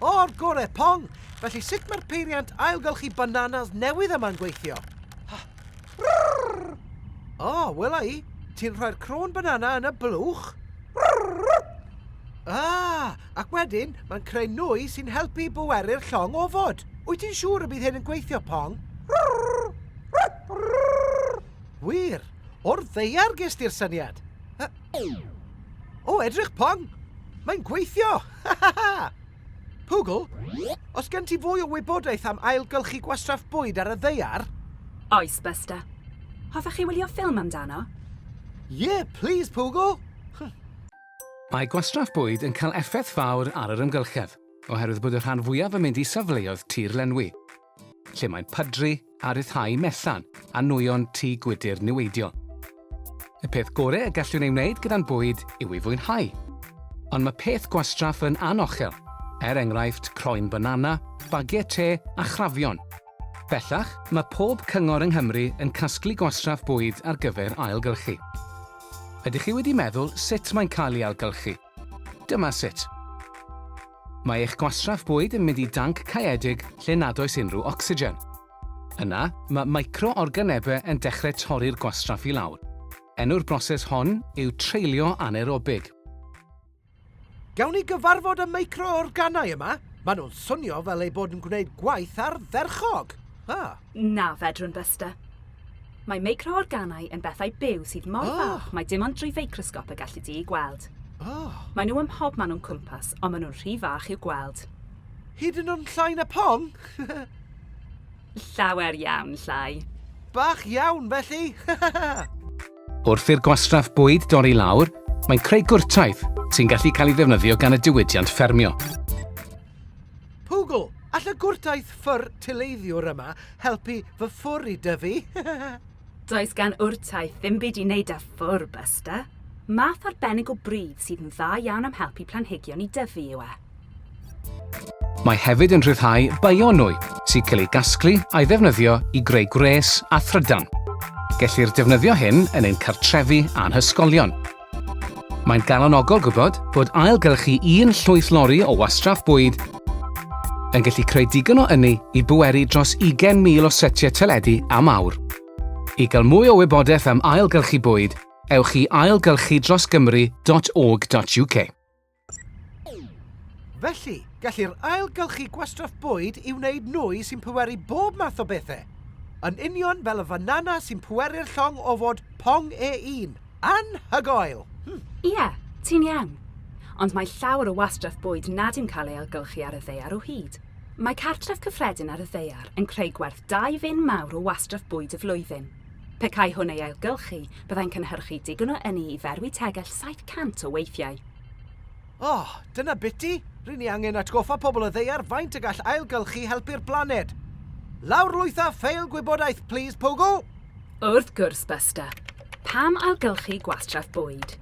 O'r gore, Pong! Felly sut mae'r peiriant ailgylchu bananas newydd yma'n gweithio? O, oh, wela i. Ti'n rhoi'r crôn banana yn y blwch? Ah, ac wedyn mae'n creu nwy sy'n helpu i bweru'r llong ofod. Wyt ti'n siŵr y bydd hyn yn gweithio, Pong? Wir, o'r ddeiar gesti'r syniad. O, edrych pong! Mae'n gweithio! Ha ha ha! Pugl, os gen ti fwy o wybodaeth am ailgylchu gwastraff bwyd ar y ddeiar? Oes, Buster. Hoffech chi wylio ffilm amdano? Ie, plis, Pugl! Mae gwastraff bwyd yn cael effaith fawr ar yr amgylchedd, oherwydd bod y rhan fwyaf yn mynd i safleoedd tir lenwi. lle mae'n pydru a rhyddhau mellan a nwyon tŷ gwydr niweidiol. Y peth gorau y gallwn ei wneud gyda'n bwyd yw ei fwynhau. Ond mae peth gwastraff yn anochel, er enghraifft croen banana, bagiau te a chrafion. Bellach, mae pob cyngor yng Nghymru yn casglu gwastraff bwyd ar gyfer ailgylchu. Ydych chi wedi meddwl sut mae'n cael ei ailgylchu? Dyma sut. Mae eich gwastraff bwyd yn mynd i danc caeedig lle nad oes unrhyw ocsigen. Yna, mae micro-organebau yn dechrau torri'r gwastraff i lawr. Enw'r broses hon yw treulio anaerobig. Gawn ni gyfarfod y micro-organau yma? Maen nhw'n swnio fel eu bod yn gwneud gwaith ardderchog! Ah. Na, fedrwn, Buster. Mae meicroorganau yn bethau byw sydd mor oh. fach mae dim ond drwy feicrosgop y gallu di i gweld. Oh. Mae nhw ym mhob man o'n cwmpas, ond maen nhw'n rhy fach i'w gweld. Hyd yn o'n llai na pon? Llawer iawn llai. Bach iawn, felly! Wrth i'r gwastraff bwyd dorri lawr, mae'n creu gwrtaith sy'n gallu cael ei ddefnyddio gan y diwydiant ffermio. Pwgl, all y gwrtaith ffwr tileiddiwr yma helpu fy ffwr i dyfu? Does gan wrtaith ddim byd i wneud â ffwr, Buster. Math arbennig o bridd sydd yn dda iawn am helpu planhigion i dyfu yw e. Mae hefyd yn rhyddhau bionwy sy'n cael ei gasglu a'i ddefnyddio i greu gwres a thrydan. Gellir defnyddio hyn yn ein cartrefi a'n hysgolion. Mae'n galonogol gwybod bod ailgylchu un llwyth lori o wastraff bwyd yn gallu creu digon o ynni i bweru dros 20,000 o setiau teledu am awr. I gael mwy o wybodaeth am ailgylchu bwyd, ewch i ailgylchudrosgymru.org.uk. Felly, gellir ailgylchu gwastraff bwyd i wneud nwy sy'n pweru bob math o bethau. Yn union fel y fanana sy'n pweru'r llong o fod pong e un. Anhygoel! Hmm. Ie, ti'n iawn. Ond mae llawer o wastraff bwyd nad yw'n cael ei ailgylchu ar y ddaear o hyd. Mae cartref cyffredin ar y ddaear yn creu gwerth dau fin mawr o wastraff bwyd y flwyddyn. Pe cai hwn ei ailgylchu, byddai'n cynhyrchu digon o ynni i ferwi tegell 700 o weithiau. O, dyna biti, ry'n ni angen atgoffa pobl y ddeiar faint y gall ailgylchu helpu'r blaned. Lawrlwytha ffeil gwybodaeth, plîs, Pogo! Wrth gwrs, Buster. Pam ailgylchu gwastraff bwyd?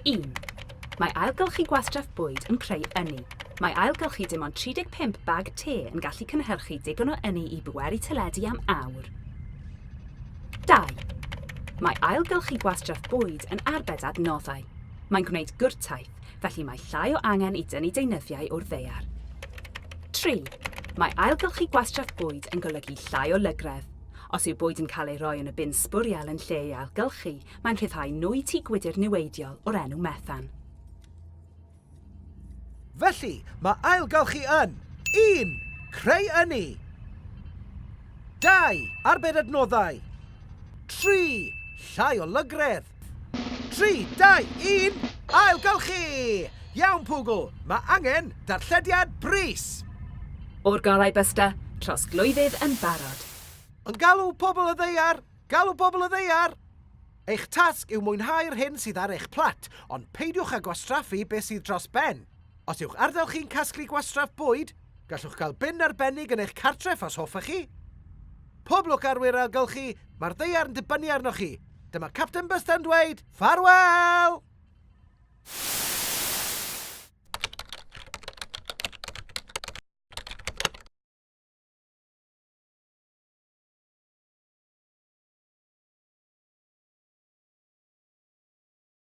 Un. Mae ailgylchu gwastraff bwyd yn creu ynni. Mae ailgylchu dim ond 35 bag te yn gallu cynhyrchu digon o ynni i bweru teledu am awr. Dau. Mae ailgylchu gwastraff bwyd yn arbed adnoddau. Mae'n gwneud gwrtaith, felly mae llai o angen i dynnu deunyddiau o'r ddaear. Tri, mae ailgylchu gwastraff bwyd yn golygu llai o lygredd. Os yw bwyd yn cael ei roi yn y bin sbwriel yn lle ei ailgylchu, mae'n rhyddhau nwy tŷ gwydr niweidiol o'r enw methan. Felly, mae ailgylchu yn, un, creu ynni, dau, arbed adnoddau, tri, llai o lygredd. Tri, dau, un, ailgylchu! Iawn Pwgl, mae angen darllediad brys! O'r golau Buster, trosglwyddydd yn barod! Yn galw pobl y ddaear! Galw pobl y ddaear! Eich tasg yw mwynhau'r hyn sydd ar eich plat, ond peidiwch â gwastraffu beth sydd dros ben. Os yw'ch ardal chi'n casglu gwastraff bwyd, gallwch gael bin arbennig yn eich cartref os hoffech chi. Pob lwc arwyr ailgylchu, mae'r ddaear yn dibynnu arnoch chi! Dyma Capten Bysta yn dweud, ffarwel!